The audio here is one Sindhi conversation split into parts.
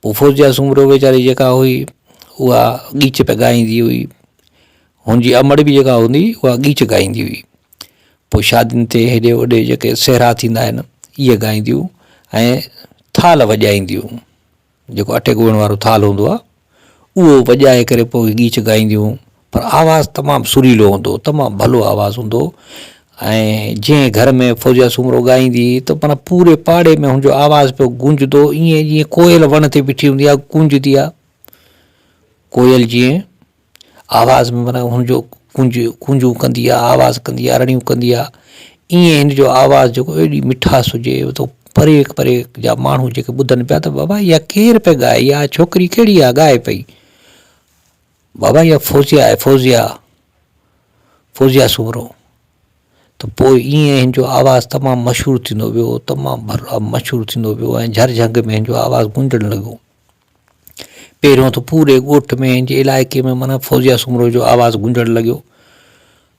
پوء فوزيه سومرو ويچاري جيڪا هئي اها ڳيچ پئي ڳائيندي هئي هن جي امڙ به جيڪا هوندي هئي اها ڳيچ ڳائيندي هئي پوء شادين تي هيڏي هوڏي جيڪي سهرا ٿيندا آهن اهي ڳائينديون ۽ ٿال وڄائينديون جيڪو اٽي ڳوهڻ وارو ٿال هوندو آهي اهو وڄائي ڪري پوء ڳيچ ڳائينديون پر آواز تمام سريلو هوندو هو تمام ڀلو آواز هوندو هو ۽ جنهن گهر ۾ فوزيا سومرو ڳائيندي هئي ته معنيٰ پوري پاڙي ۾ هن جو آواز پيو گونجندو هو ائين جيئن ڪوئل وڻ تي بيٺي هوندي آهي گونجندي آهي ڪوئل جيئن آواز ۾ معنيٰ هن جو ڪونج ڪونجون ڪندي آهي آواز ڪندي آهي رڙيون ڪندي آهي ائين هن جو آواز جيڪو ايڏي مٺاس هجي تو پري پري جا ماڻهو جيڪي ٻڌن پيا ته بابا اها ڪير پئي ڳائي اها ڇوڪري ڪهڙي آهي ڳائي پئي بابا اها فوزيا آهي فوزيا فوزيا سومرو ته پوء ائين هن جو آواز تمام مشهور ٿيندو ويو تمام ڀرلا مشهور ٿيندو ويو ۽ جھر جھنگ ۾ هن جو آواز گونجڻ لڳو پهريون ته پوري ڳوٺ ۾ هن جي علائقي ۾ مانا فوزيا سومرو جو آواز گونجڻ لڳو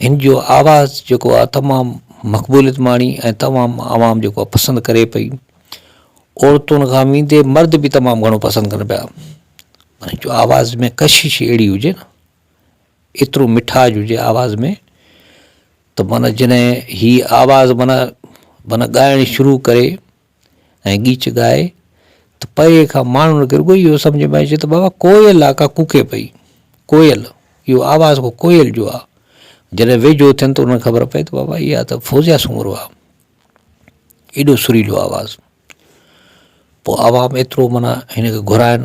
هن جو آواز جيڪو آ تمام مقبوليت ماڻي ۽ تمام عوام جيڪو آ پسند ڪري پئي عورتون کان ويندي مرد به تمام گهڻو پسند ڪن پيا هن جو آواز ۾ ڪشش اهڙي هجي نه ايترو مٺاج هجي آواز ۾ ته مانا جنهن هي آواز مانا مانا ڳائڻ شروع ڪري ۽ ڳيچ ڳائي ته پري کان ماڻهن کي رڳو اهو سمجهه ۾ اچي ته بابا ڪوئل آ ڪا ڪوڪي پئي. ڪوئل، اهو آواز ڪو ڪوئل جو آ. جڏهن ويجهو ٿين ته انهن کي خبر پئي ته بابا اها ته فوزيه سومرو آ. ايڏو سريلو آواز. پوء عوام ايترو معنيٰ هن کي گهرائن.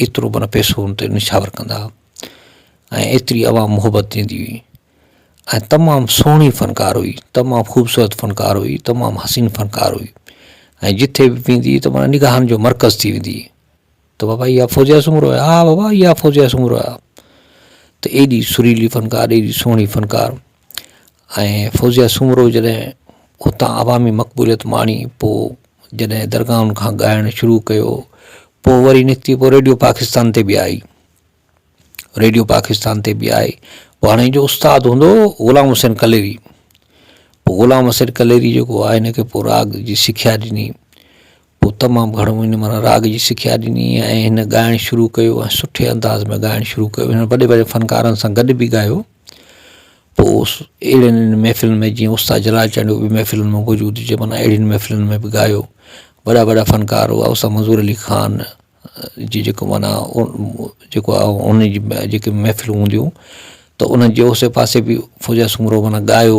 ايترو معنيٰ پئسو هن تي نشاور ڪندا هئا ۽ ايتري عوام محبت ڏيندي هئي ۽ تمام سهڻي فنڪار هئي تمام خوبصورت فنڪار هئي تمام حسين فنڪار هئي ۽ جتي به ويندي هئي ته معنيٰ نگاهن جو مرڪز ٿي ويندي هئي ته بابا اها فوزيه سومرو آهي ها بابا اها فوزيه سومرو آهي ته ايڏي سريلي فنڪار ايڏي سهڻي فنڪار ۽ فوزيه سومرو جڏهن اتان عوامي مقبوليت ماڻي پوء جڏهن درگاهن کان ڳائڻ شروع ڪيو پوء وري نڪتي پوء ريڊيو پاڪستان تي به آئي ريڊيو پاڪستان تي به آئي پوء هاڻي جو استاد هوندو هو غلام حسين ڪليري پوء غلام حسين ڪليري جيڪو آهي هن کي پوء راڳ جي سکيا ڏني پوء تمام گهڻو هن من راڳ جي سکيا ڏني ۽ هن ڳائڻ شروع ڪيو ۽ سٺي انداز ۾ ڳائڻ شروع ڪيو هن وڏي وڏي فنڪارن سان گڏ به ڳايو پوء اهڙين محفلن ۾ جيئن استاد جلال چانڊيو به محفلن ۾ موجود هجي معنيٰ اهڙين محفلن ۾ به ڳايو وڏا وڏا فنڪار هئا استاد منظور علي خان جي جيڪو معنيٰ جيڪو آهي ان جي جيڪي محفلون هونديون هيون ته ان جي اوسي پاسي به فوزيا سومرو معنيٰ ڳايو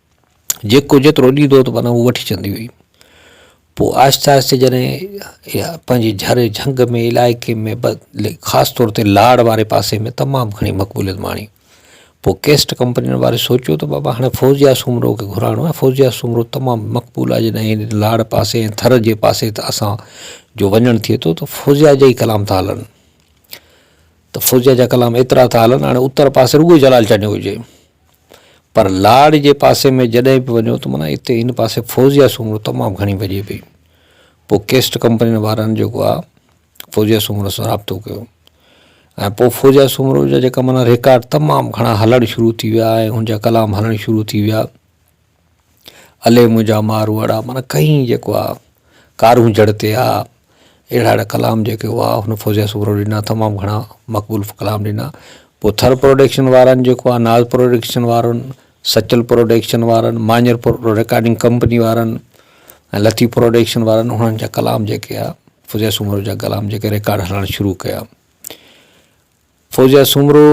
جيڪو جيترو ڏيندو ته معنيٰ هوء وٺي ڇڏندي هئي. پوء آهستي آهستي جڏهن اها پنهنجي جھر جھنگ ۾ علائقي ۾ خاص طور تي لاڙ واري پاسي ۾ تمام گھڻي مقبوليت ماڻي. پوء ڪيسٽ ڪمپنين واري سوچيو ته بابا هاڻي فوزيه سومرو کي گھرائڻو آهي. فوزيه سومرو تمام مقبول آهي جڏهن هن لاڙ پاسي ۽ ٿر جي پاسي ته اسان جو وڃڻ ٿئي ٿو ته فوزيه جا ئي ڪلام ٿا هلن ته فوزيه جا ڪلام ايترا ٿا هلن هاڻي اتر پاسي رڳو جلال چانڊيو هجي. پر لاڙ جي پاسي ۾ جڏهن به وڃو ته معنيٰ اتي ان پاسي فوزيا سومرو تمام گهڻي وڄي پئي پوء ڪيسٽ ڪمپنين وارن جيڪو آ فوزيا سومرو سان رابطو ڪيو ۽ پوء فوزيا سومرو جا جيڪا معنيٰ ريڪارڊ تمام گهڻا هلڻ شروع ٿي ويا ۽ هن جا ڪلام هلڻ شروع ٿي ويا الي منهنجا ماروئڙا معنيٰ ڪئين جيڪو آ ڪارون جڙ تي آ اهڙا اهڙا ڪلام جيڪي هئا هن فوزيه سومرو ڏنا تمام گهڻا مقبول ڪلام ڏنا پوء ٿر پروڊڪشن وارن جيڪو آ ناز پروڊڪشن وارن سچل پروڊڪشن وارن مانير پرو رڪارڊنگ ڪمپني وارن ۽ لطيف پروڊڪشن وارن انهن جا ڪلام جيڪي آ فوزيه سومرو جا ڪلام جيڪي رڪارڊ هلڻ شروع ڪيا فوزيه سومرو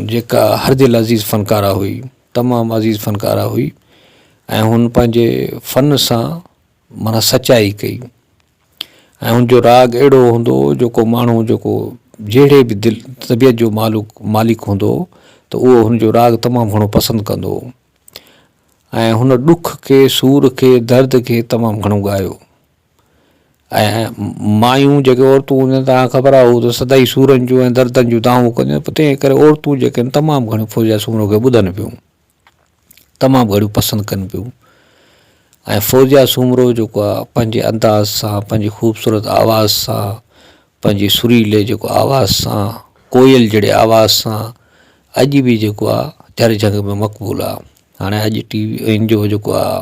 جيڪا هر دل عزيز فنڪاره هئي تمام عزيز فنڪاره هئي ۽ هن پنهنجي فن سان معنيٰ سچائي ڪئي ۽ هن جو راڳ اهڙو هوندو هو جو ڪو ماڻهو جيڪو جهڙي به دل طبيعت جو مالوڪ مالڪ هوندو هو ته اهو هن جو راڳ تمام گهڻو پسند ڪندو هو ۽ هن ڏک کي سور کي درد کي تمام گهڻو ڳايو ۽ مايون جيڪي عورتون هونديون آهن تان خبر آهي ته سدائي سورن جون ۽ دردن جون دانهون ڪنديون آهن تنهن ڪري عورتون جيڪي آهن تمام گهڻيون فوزيا سومرو کي ٻڌن پيون تمام گهڻيون پسند ڪن پيون ۽ فوزيا سومرو جيڪو آهي پنهنجي انداز سان پنهنجي خوبصورت آواز سان پنهنجي سريلي جيڪو آواز سان ڪوئل جهڙي آواز سان اڄ بي جيڪو آهي جهر جهنگ ۾ مقبول آهي هاڻي اڄ ٽي وي ان جو جيڪو آهي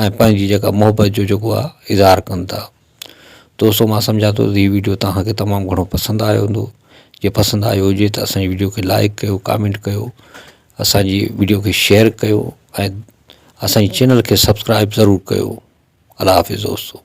۽ پنهنجي جيڪا محبت جو جيڪو آ اظهار ڪن ٿا دوستو مان سمجهان ٿو هي ويڊيو توهان کي تمام گهڻو پسند آيو هوندو جي پسند آيو هجي ته اسان جي ويڊيو کي لائڪ ڪيو ڪامينٽ ڪيو اسان جي ويڊيو کي شيئر ڪيو ۽ اسان جي چينل کي سبسڪرائب ضرور ڪيو الله حافظ دوستو